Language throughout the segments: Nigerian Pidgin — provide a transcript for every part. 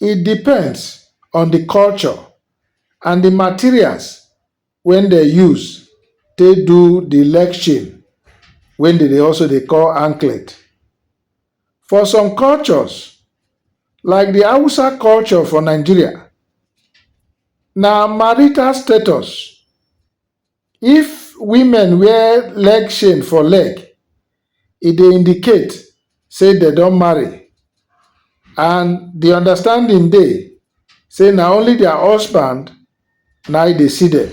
E depends on di culture and di materials wey dem use take do di leg chain wey dem dey also dey call anklet. For some cultures like di Hausa culture for Nigeria, na marital status. If women wear leg chain for leg, e dey indicate say dem don marry and the understanding dey say na only their husband na e dey see dem.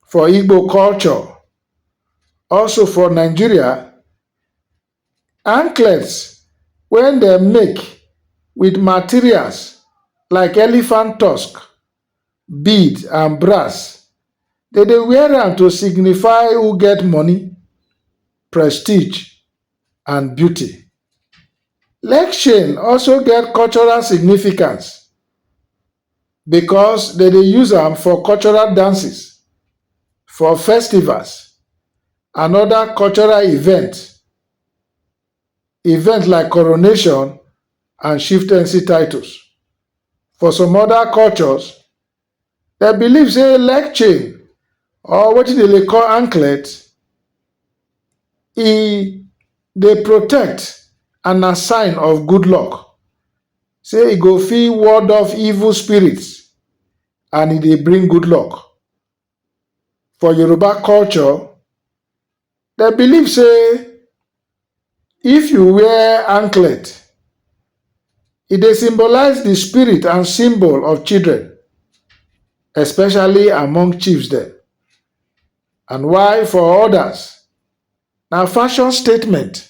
For Igbo culture, also for Nigeria, anklets wey dem make with materials like elephant tusk bead and brass dem dey wear am to signify who get money, prestige and beauty. Leg chain also get cultural significance. because dem dey use am for cultural dances, for festivals and other cultural event, event like coronation and chieftaincy titles. For some other cultures, dem believe sey leg chain or wetin dem dey call anklet, e dey protect and na sign of good luck. say e go fit ward off evil spirits and e dey bring good luck. For Yoruba culture, dem believe say if you wear anklet, e dey symbolize the spirit and symbol of children, especially among chiefs dem. And while for others, na fashion statement.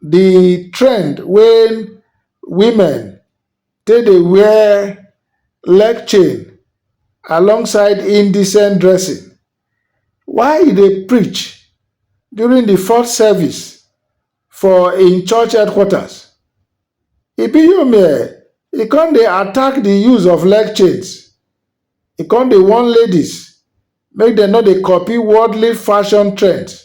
the trend wey women take dey wear leg chain alongside indecent dressing while e dey preach during the fourth service for im church headquarters, Ibiyomie e come dey attack the use of leg chains, e come dey warn ladies make dem no dey copy worldly fashion trends.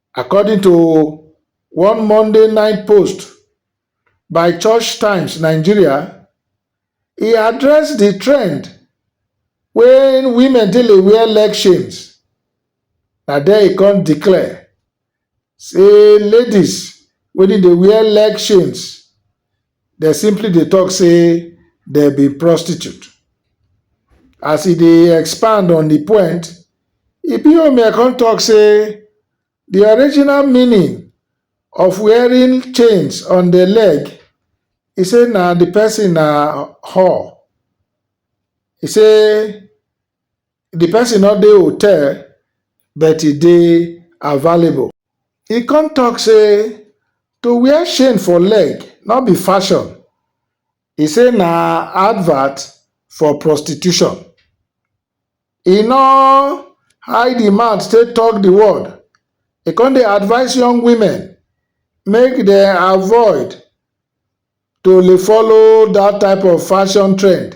According to one Monday night post by Church Times Nigeria, e address di trend wey women take dey wear leg chains, na there e come declare say ladies wey dey wear leg chains, dem simply dey tok say dem be prostitute. As e dey expand on di point, Ibiomie come tok say di original meaning of wearing chains on di leg, e say na di pesin na whore. E say the person no dey hotel but e dey available. E come talk say to wear chain for leg no be fashion, e say na advert for prostitution. E no hide im mouth take talk the word, e come dey advise young women make dem avoid to dey follow that type of fashion trend.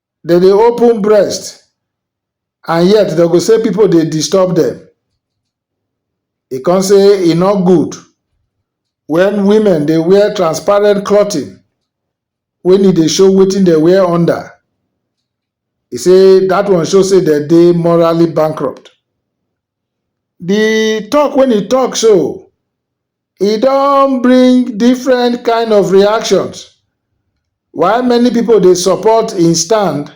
Dem dey open breast and yet dem go say people dey disturb dem. E come say e no good when women dey wear transparent clothing when e dey show wetin dem wear under. E say that one show say dem dey morally bankrupt. The talk when e talk so, e don bring different kind of reactions while many pipo dey support im stand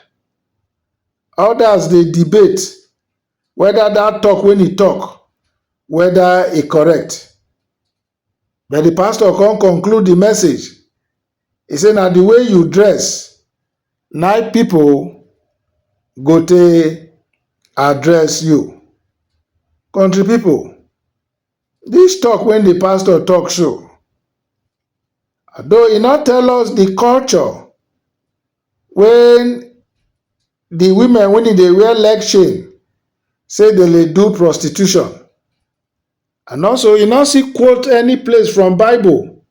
odas dey debate weda dat tok wey e tok weda e correct but di pastor come conclude di message e say na di way you dress na im pipo go take address you. Country pipo Dis tok wey di pastor tok so, although e no tell us di culture wey di women wey dey dey wear leg chain say dem dey do prostitution and also e no still quote any place from bible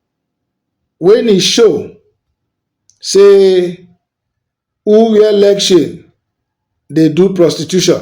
wey e show say who wear leg chain dey do prostitution.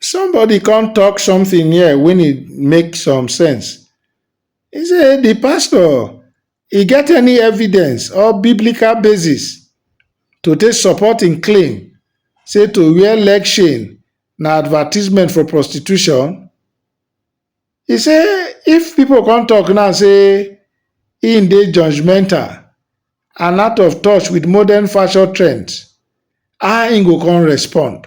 Somebody come talk something here when it make some sense. He say, the pastor, he get any evidence or biblical basis to take support him claim say to wear leg chain na advertisement for prostitution? He say, if people come talk now say him dey judgmental and out of touch with modern fashion trends, how him go come respond?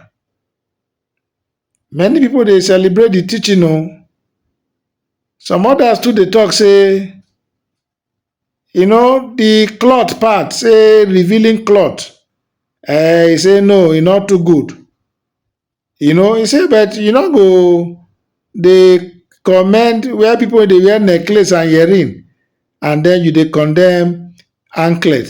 Many pipu dey celebrate di teaching o, some odas too dey talk sey you know di cloth part sey revealing cloth um e sey no e no too good, you know e sey but you no go dey comment where pipu wey dey wear necklace and earring and den you dey condemn anklet.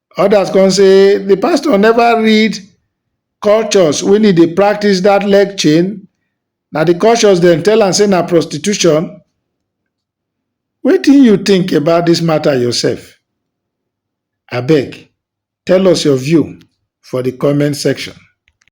Others come say the pastor never read cultures when he dey practice that leg chain. Na the cultures dem tell am say na prostitution. Wetin you think about this matter yourself? Abeg, tell us your view for the comment section.